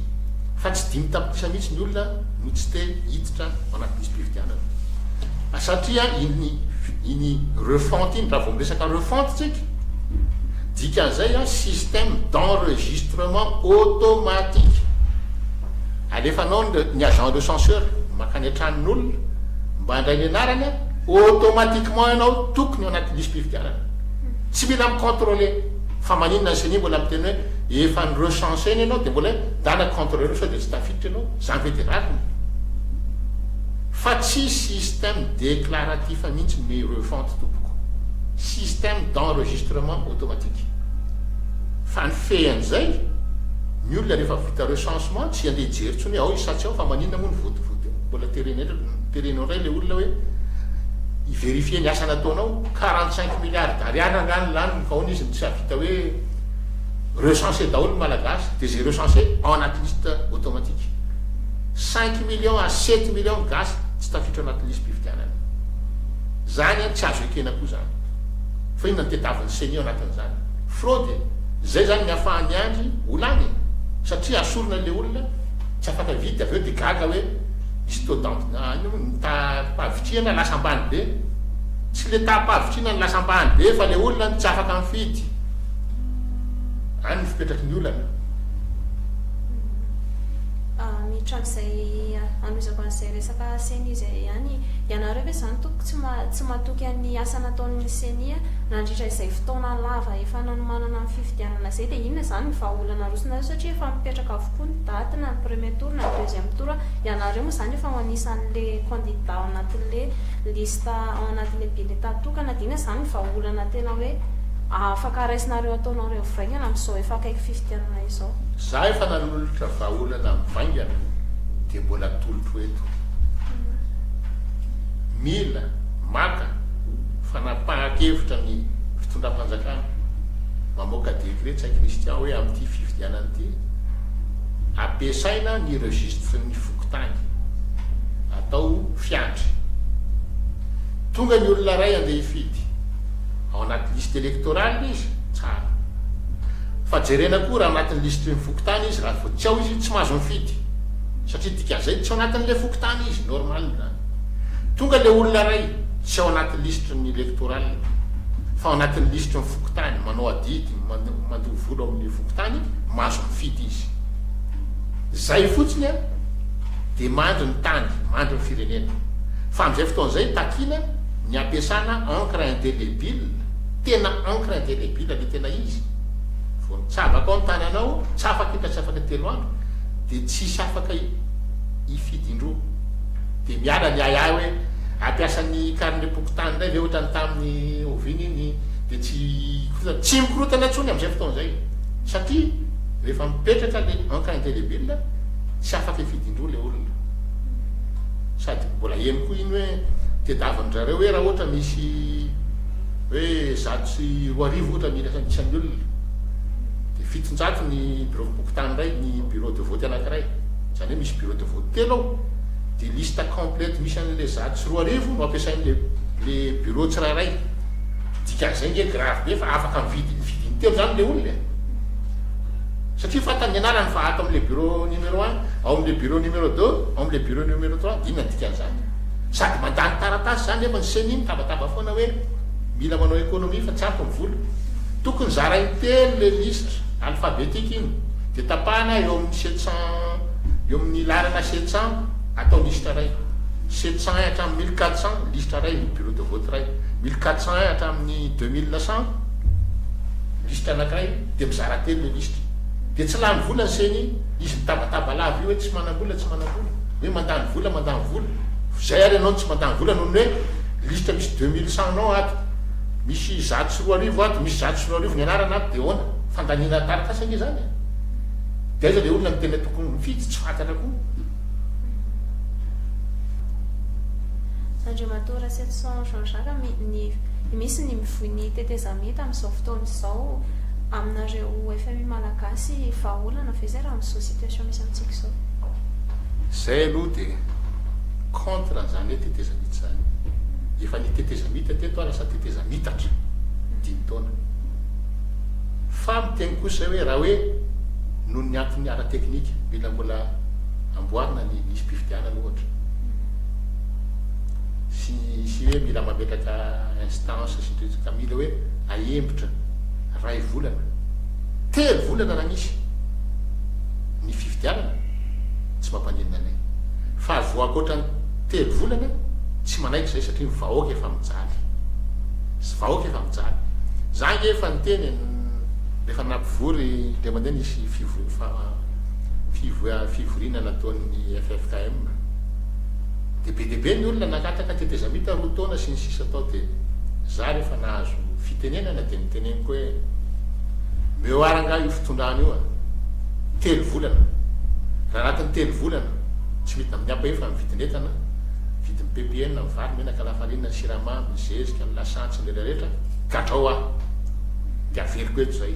fa tsy dimy tapitrisa mihitsy ny olona no tsy te hiditra ao anaty lisi-pifidianana. Fa satria iny iny refonte iny raha vao miresaka refonte tsika dikan'izay a système d'enregistrement automatique. alefanao ny agent de censeur mankany an-tranon' olona mba handray ny anarany, automatiquement ianao tokony ao anaty lisi-pifidianana. Tsy mila mi-controler fa maninona ny ceni mbola miteny hoe efa ni-recenser-na ianao dia mbola hoe ndana controleo sao dia tsy tafiditra ianao, izany ve dia rariny? Fa tsy système déclaratif mihitsy ny refonte tompoko, système d'enregistrement automatique. Fa ny fehy an'izay ny olona rehefa. Ka recensement tsy andeha hijery intsony hoe ao i Satsy ao fa maninona moa ny vote vote eo? Mbola terena indray terena indray ilay olona hoe hi verifier ny asa nataonao? Quarante cinq milliards d'ariary angaha no laniny fa ahoana izy no tsy hahavita hoe recenser daholo ny Malagasy dia izay recenser ao anaty liste automatique? Cinq millions à sept millions ny gasy tsy tafiditra anaty lisi-pifidianana. Izany an tsy azo ekena koa izany. Fa inona no tediavin'ny ceni ao anatin'izany? Fraude e! Zay zany ny afahan'i Andry ho lany e! Satria asorina le olona, tsy afaka vita avy eo de gaga hoe misy taux d'en ny taham-pahavitrihana lasa ambany be! Tsy le taham-pahavitrihana no lasa ambany be fa le olona no tsy afaka mifidy! Any no fipetraky ny olana. Miditra amin'izay anohizako an'izay resaka ceni izay ihany, ianareo ve izany tompoko tsy tsy matoky an'ny asa nataon'ny ceni? nandritra izay fotoana lava efa nanomanana ny fifidianana izay dia inona izany ny vahaolana arosonareo satria efa mipetraka avokoa ny daty na ny premier tour na ny deuxième tour ianareo moa izany efa ao anisan'ilay candidat ao anatin'ilay liste ao anatin'ilay bulletin tokana dia inona izany ny vahaolana tena hoe afaka raisinareo ataonao revo vaingana amin'izao efa akaiky fifidianana izao. Za efa nanolotra vahaolana mivaingana dia mbola atolotro eto. Mila, maka. Fanapahan-kevitra ny fitondram-panjakana mamoaka décret Tsay Christian hoe amin'ity fifidianana ity, ampiasaina ny registre ny fokontany, atao fiandry. Tonga ny olona iray handeha hifidy, ao anaty liste électorale izy, tsara. Fa jerena koa raha anatin'ny liste ny fokontany izy, raha vao tsy ao izy, tsy mahazo mifidy, satria dikan'izay tsy ao anatin'ilay fokontany izy, normal. Tonga le olona ray tsy ao anaty lisitry ny electoral fa ao anatin'ny lisitry ny fokontany manao adidy mandoa vola ao amin'ny fokontany mahazo mifidy izy. Zay fotsiny an de mandry ny tany, mandry ny firenena. Fa amin'izay fotoana izay takiana ny ampiasana encre indélébile, tena encre indélébile le tena izy. Vao nitsabaka ao ny tananao, tsy afaka hita tsy afaka telo andro de tsy hisy afaka hifidy indroa. dia miala ny ahiahy hoe hampiasa ny karinem-pokontany indray ve ohatran'ny tamin'ny oviana iny dia tsy hikorotana, tsy mikorotana intsony amin'izay fotoana izay satria rehefa mipetraka ilay encre indélébile tsy afaka hifidy-indroa ilay olona sady mbola heno koa iny hoe tedavin-dry zareo hoe raha ohatra misy hoe zato sy roa arivo ohatra ny isan'ny olona dia fiton-jato ny biraom-pokontany iray ny bureau de vote anankiray izany hoe misy bureau de vote telo ao, dia liste complète misy an'ilay zato sy roa arivo no ampiasain'ilay ilay bureau tsirairay, dikan'izay nge grave be fa afaka mividy ny vidiny telo izany ilay olona e! satria fantany ny anarany fa ato amin'ilay bureau numéro un, ao amin'ilay bureau numéro deux, ao amin'ilay bureau numéro trois, dia inona ny dikan'izany? sady mandany taratasy izany nefa ny ceni mitabataba foana hoe mila manao économie fa tsy ampy ny vola, tokony zarainy telo ilay liste alphabetique iny. Dia tapahana eo amin'ny sept cents, eo amin'ny laharana sept cents, atao lisitra iray. Sept cents hatramin'ny mille quatre cents, lisitra iray, bureau de vote iray. Mille quatre cents hatramin'ny deux mille cents, lisitra anankiray. Dia mizara telo ilay lisitra. Dia tsy lany vola ny ceni. Izy mitabataba lava io hoe tsy manam-bola, tsy manam-bola. Hoe mandany vola, mandany vola. Izay ary ianao no tsy mandany vola noho ny hoe lisitra misy deux mille cents-nao ato. Misy zato sy roa arivo ato, misy zato sy roa arivo ny anarana ato, dia ahoana? Fandaniana taratasy ange izany e! Dia aiza ilay olona no tena tokony mifidy? Tsy fantatra koa. Andriamatoa Rasetison Jean Jacques, mi, ny, misy ny mivoy ny tetezamita amin'izao fotoana izao, aminareo FMI malagasy, vahaolana ve izay raha amin'izao situation misy amintsika izao? Izay aloha dia contre an'izany hoe tetezamita izany. Efa nitetezamita teto aho lasa tetezamitatra, dimy taona. Fa ny teny kosa hoe raha hoe noho ny antony ara-teknika mila mbola amboarina ny lisi-pifidianana ohatra sy sy hoe mila mametraka instance sy ny sisa ka mila hoe ahembotra iray volana, telo volana raha misy ny fifidianana tsy mampaninona anay. Fa azo ankoatra ny telo volana tsy manaiky izay satria ny vahoaka efa mijaly. izany. Za nge efa niteny e, rehefa nampivory indray mandeha nisy fivoy fivoriana nataon'ny ffkm, dia be dia be ny olona nakatraka tetezamita roa taona sy ny sisa tao dia za rehefa nahazo fitenenana dia niteneniko hoe meoir angaha io fitondrana io a? telo volana, raha anatin'ny telo volana tsy midina amin'ny ampahefan'ny vidin'entana, vidin'ny ppn, ny vary, ny menaka, lafarinina, ny siramamy, ny zezika, ny lasantsy, Rehetra rehetra, gadrao aho dia averiko eto izay.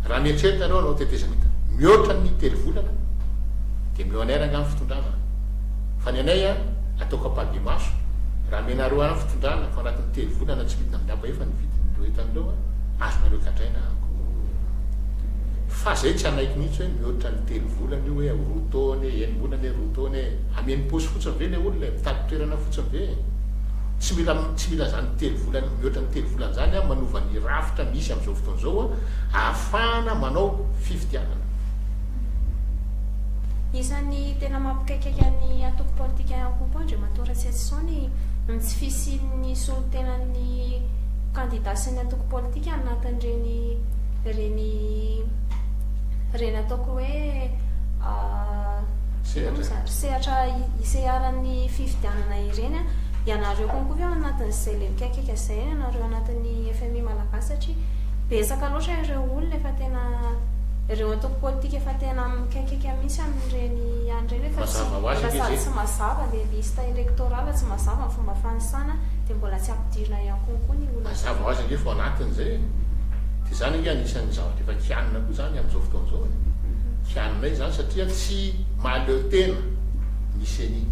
Raha mieritreritra ianao hanao tetezamita mihoatra ny telo volana dia omeo anay rangah ny fitondrana. Fa ny anay an, ataoko ampahibemaso, raha omenareo ahy ny fitondrana fa anatin'ny telo volana tsy midina miraba efa ny vidin'ireo entana ireo an, azonareo gadraina aho ko. Fa izay tsy hanaiky mihitsy hoe mihoatra ny telo volana io hoe roa taona e, enim-bolana e, roa taona e. Hameno paosy fotsiny ve ilay olona e? Mitady toerana fotsiny ve e? tsy mila tsy mila izany telo volana mihoatra ny telo volana izany an manova ny rafitra misy amin'izao fotoana izao an ahafahana manao fifidianana. Isan'ny tena mampikaikaika an'ny antoko politika Rakopo Andriamatoa Ratsietison ny tsy fisian'ny solontenan'ny kandida sy ny antoko politika anatin'ireny ireny ireny ataoko hoe sehatra sehatra iseharan'ny fifidianana ireny ianareo konko ve ao anatin'izay lelikaikaika izay ianareo anatin'ny FMI malagasy satria betsaka loatra ireo olona efa tena ireo antoko politika efa tena mikaikaika mihitsy amin'ireny ihany ireny efa tsy mbola sady tsy mazava le liste électorale tsy mazava ny fomba fanisana dia mbola tsy ampidirina ihany konko ny olona mazava ho azy ange fa ao anatin'izay e dia izany ange anisan'ny zavatra efa kianina koa izany amin'izao fotoana izao e Mpianona izany satria tsy mahaleo tena ny ceni.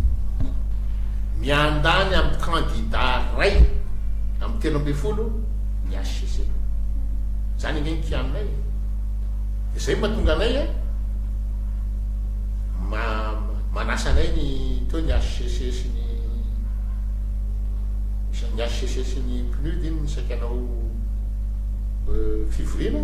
Miandany amin'ny kandida iray amin'ny telo ambin'ny folo ny HCC. Izany ange ny kianonay e. Dia izay no mahatonga anay a ma manasa anay ny teo ny HCC sy ny ny HCC sy ny PNUD iny ny saika hanao fivoriana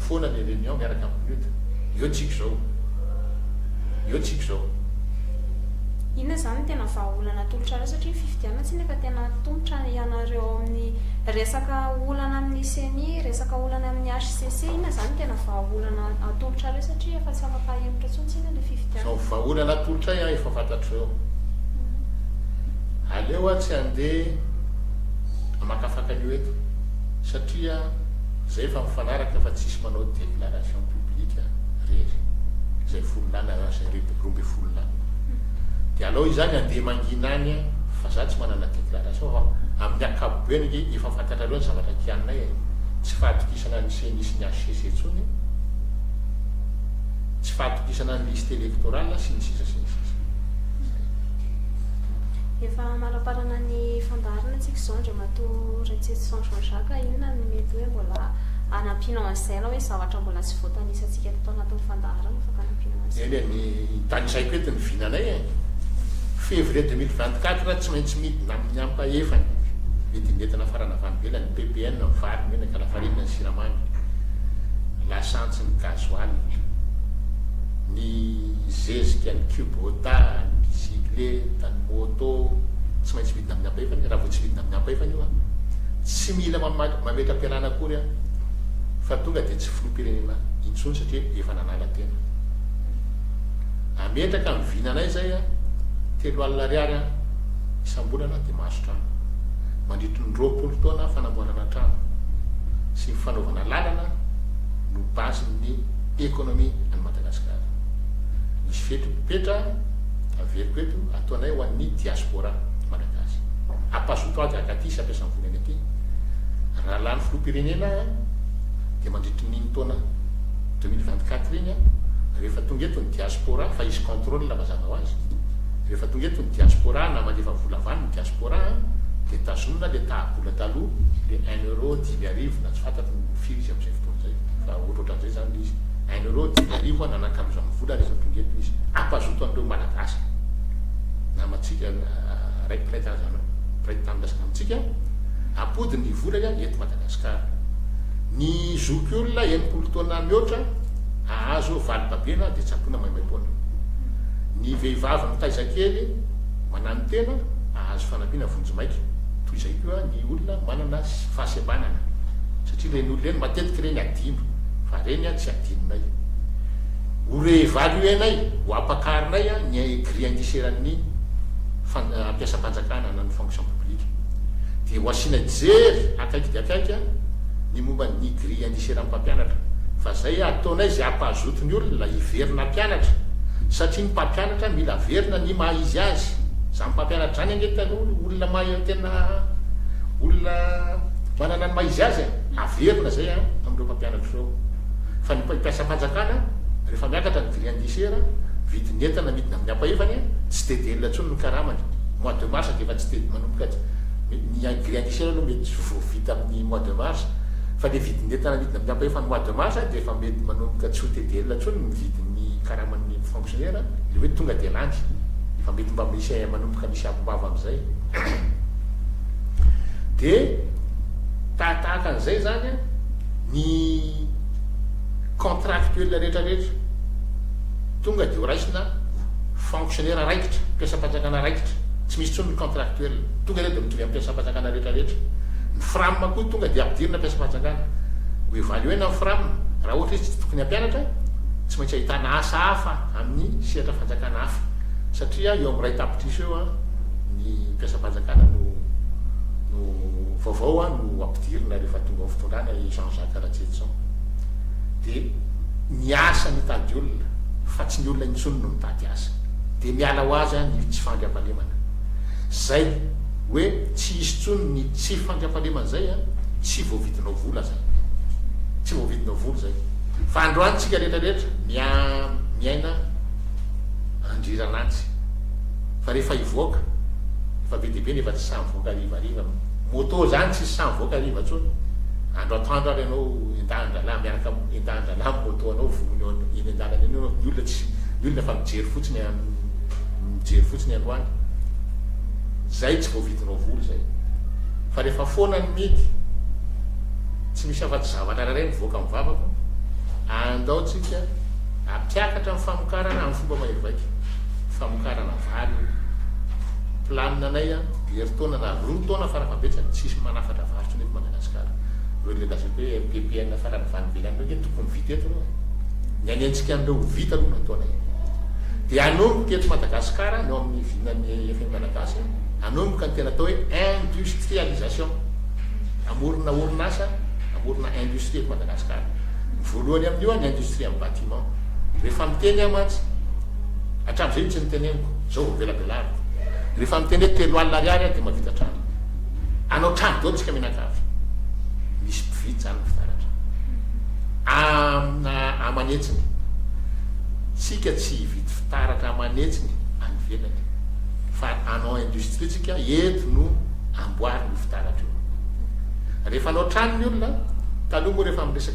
foana ny reunion miaraka amin'ny Lutte. Eo tsika izao. Eo tsika izao. Inona izany no tena vahaolana atolotrareo satria ny fifidianana tsy nefa tena atolotra ianareo ao amin'ny resaka olana amin'ny ceni, resaka olana amin'ny HCC, inona izany no tena vahaolana atolotrareo satria efa tsy afaka hahemotra intsony tsika ilay fifidianana. Izao vahaolana atolotray an efa fantatrareo. Aleo atsy handeha hamakafaka an'io eto satria. Zay efa mifanaraka fa tsisy manao declaration public rery zay folo lana lasa ireto roa ambin'ny folo lana de alao izany andeha mangina any fa za tsy manana declaration fa amin'ny akapobeany ange efa fantatrareo ny zavatra kianinay e tsy fahatokisana ny ceni sy ny hcc intsony tsy fahatokisana ny liste electorale sy ny sisa sy ny sisa. Efa amaraparana ny fandaharana tsika izao ndry. Matoa Ratsirison Jean Jacques inona no mety hoe mbola hanampianao an'izay na hoe zavatra mbola tsy voatanisantsika teto anatin'ny fandaharana fa kanampianao an'izay? Eny e, ny tanisaiko eto ny vinanay e! Février deux mille vingt quatre tsy maintsy midina amin'ny ampahefany vidin'entana farany avy any ivelany, PPN, ny vary, ny menaka, lafarinina, ny siramamy, lasantsy, ny gasoil, ny zezika, ny kubota, ny bicyclette, ny moto, tsy maintsy midina. tsididina amin'ny ampahefany, raha vao tsididina amin'ny ampahefany io an, tsy mila mamaky, mametra-pialana akory an, fa tonga dia tsy filoham-pirenena intsony satria efa nanala tena. Ametraka ny vinanay izay an, telo alina ariary an, isam-bolana dia mahazo trano. Mandritry ny roapolo taona fanamboarana trano sy ny fanaovana lalana no base ny economie an'i Madagasikara. Misy fepetra averiko eto. Tohanay ho an'ny Diaspora Malagasy. Ampazoto ahy gaga aty sy ampiasa ny volany aty. Raha lany filoham-pirenena aho dia mandritry ny iny taona deux mille vingt quatre iny aho rehefa tonga eto ny Diaspora fa hisy contrôle mazava ho azy. Rehefa tonga eto ny Diaspora na mandefa vola avy any ny Diaspora dia tazonina le taha-bola taloha le un euro dimy arivo na tsy fantatro firy izy amin'izay fotoana izay fa ohatrohatran'izay izany le izy. Hainao ireo Joliaria hoa nanankalozan ny vola rehefa tonga eto izy. Ampazoto an'ireo Malagasy namantsika ray mpiray karazana mpiray tanindrazana amintsika ampody ny vola ya eto Madagascar. Ny zoky olona enimpolo taona mihoatra ahazo valo babena dia tsaboina maimaimpoana. Ny vehivavy mitaiza kely mananotena ahazo fanampiana vonjy maika. Toy izay koa ny olona manana fahasembanana satria ireny olona ireny matetika ireny adino fa reny an tsy adinonay ho reevaluenay ho ampakarinay an ny grille indiciaire ny fampiasam-panjakana na ny fonction publique dia ho asianay jery akaiky dia akaiky an ny momba ny grille indiciaire ny mpampianatra fa zay ataonay zay ampahazoto ny olona hiverina hampianatra satria ny mpampianatra mila averina ny maha izy azy zany mpampianatra zany ange taloha olona maha tena olona manana ny maha izy azy an. Averina izay an amin'ireo mpampianatra ireo fa ny mpiasam-panjakana rehefa miakatra ny grille indiciaire vidin'ny entana amidina amin'ny ampahivany tsy dia dia elona intsony ny karamany. Mois de mars dia efa tsy dia manomboka ny grille indiciaire aloha mety tsy ho vita amin'ny mois de mars fa ilay vidin'ny entana amidina amin'ny ampahivany mois de mars dia efa mety manomboka tsy ho dia dia elona intsony ny vidin'ny karaman'ny fonctionnaire ilay hoe tonga dia lany. Efa mety mba misy manomboka misy akombava amin'izay. Dia. Tahatahaka an'izay izany ny contractuels rehetra rehetra, tonga dia ho raisina fonctionnaire raikitra, mpiasam-panjakana raikitra, tsy misy intsony ny contractuel, tonga ireo dia mitovy amin'ny mpiasam-panjakana rehetra rehetra. Ny fram koa tonga dia ampidirina mpiasam-panjakana. Ho evaluer-na ny fram, raha ohatra izy tsy tokony hampianatra, tsy maintsy ahitana asa hafa amin'ny sehatra fanjakana hafa, satria eo amin'ny iray tapitrisa eo ny mpiasam-panjakana no no. Vaovao hoa no ampidirina rehefa tonga ao fitondrana i Jean Jacques Ratsietson. Dia miasa mitady olona fa tsy ny olona intsony no mitady asa. Dia miala ho azy any io tsy fandriampahalemana. Zay hoe tsy hisy tsony ny tsy fandriampahalemana zay an! Tsy voavidinao vola zay. Tsy voavidinao vola zay. Fa androany tsika rehetra rehetra miaina andriran'antsy. Fa rehefa hivoaka efa be dia be nefa tsy sahy mivoaka. Voaka harivariva moto zany tsisy sahy mivoaka hariva tsony andro atoandro ary ianao endahan dralahy miaraka am endahan dralahy am moto anao vonona eo an eny andalana eny ianao ny olona tsy ny olona fa mijery fotsiny an mijery fotsiny androany zay tsy voavidinao vola zay fa refa foana ny midy tsy misy afa tsy zavatra rairay mivoaka am vavako andao tsika ampiakatra ny famokarana am fomba mahery vaika famokarana vary eto. Planina anay an, herintaona na roa taona fara fahabetsany tsy hisy manafatra vary intsony eto Madagasikara. Ireo ilay lazany hoe MPPN farany avy any ivelany ireo nge tokony vita eto ireo. Ny any antsika any ireo ho vita aloha no ataonay. Dia hanomboka eto Madagasikara ny ao amin'ny vinan'ny FM Malagasy, hanomboka ny tena atao hoe industrialisation. Hamorona orinasa, hamorona industrie eto Madagasikara. Ny voalohany amin'io an, ny industrie amin'ny bâtiment. Rehefa miteny aho mantsy, hatramin'izay io tsy niteneniko, izao vao velabelariko. Rehefa miteny hoe telo alina ariary aho dia mahavita trano. Hanao trano daholo isika mianakavy. Misy mpividy izany ny fitaratra. Amina aman'hetsiny. Isika tsy hividy fitaratra aman'hetsiny any ivelany fa hanao industrie isika, eto no amboarina io fitaratra io. Rehefa hanao trano ny olona, taloha moa rehefa miresaka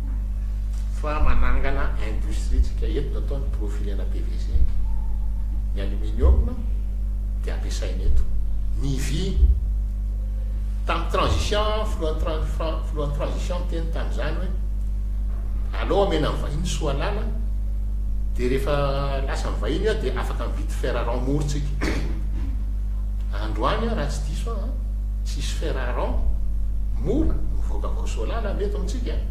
fa manangana industrie tsika eto natao ny profilena pvc ny aluminium dia ampiasaina eto ny vy tam transition filohan'ny filohan'ny transition teny tamizany hoe aleo amena ny vahiny soa lala dia rehefa lasa ny vahiny dia afaka mividy fer rang mour tsika androany raha tsy diso aho tsisy fer à rendre, mora, mivoaka avy ao Soalala anie eto amintsika e!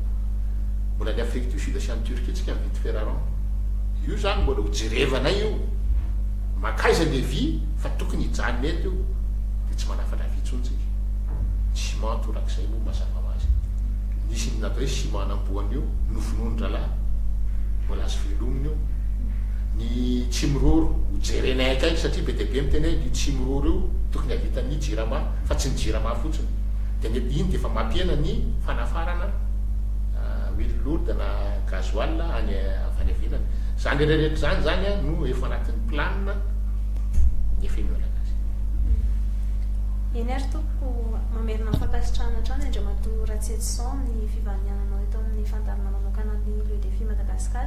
Mbola any Afrique du Sud sy any Turquie tsika mividy fer à rendre. Io izany mbola ho jerevanay io. Mankaiza ilay vy fa tokony hijanona eto io dia tsy manafatra vy intsony tsika. Ny ciment torak'izay moa mazava ho azy. Nisy inona atao hoe ciment an'amboan'io novonoin'ny rahalahy? Mbola azo velomina io. ny tsy miroro ho jerenay akaiky satria be dia be miteny hoe io tsy miroro io tokony havitan'ny jirama fa tsy ny jirama fotsiny dia ny iny dia efa mampihena ny fanafarana huile lourde na gasoil any avy any ivelany izany rehetra izany izany no efa anatin'ny plan ny fenoerana azy Eny ary tompoko mamerina ny fankasitrahana hatrany Andriamatoa Ratsietison ny fivahaniananao eto amin'ny fandaharana manokana ny Le Défi Madagascar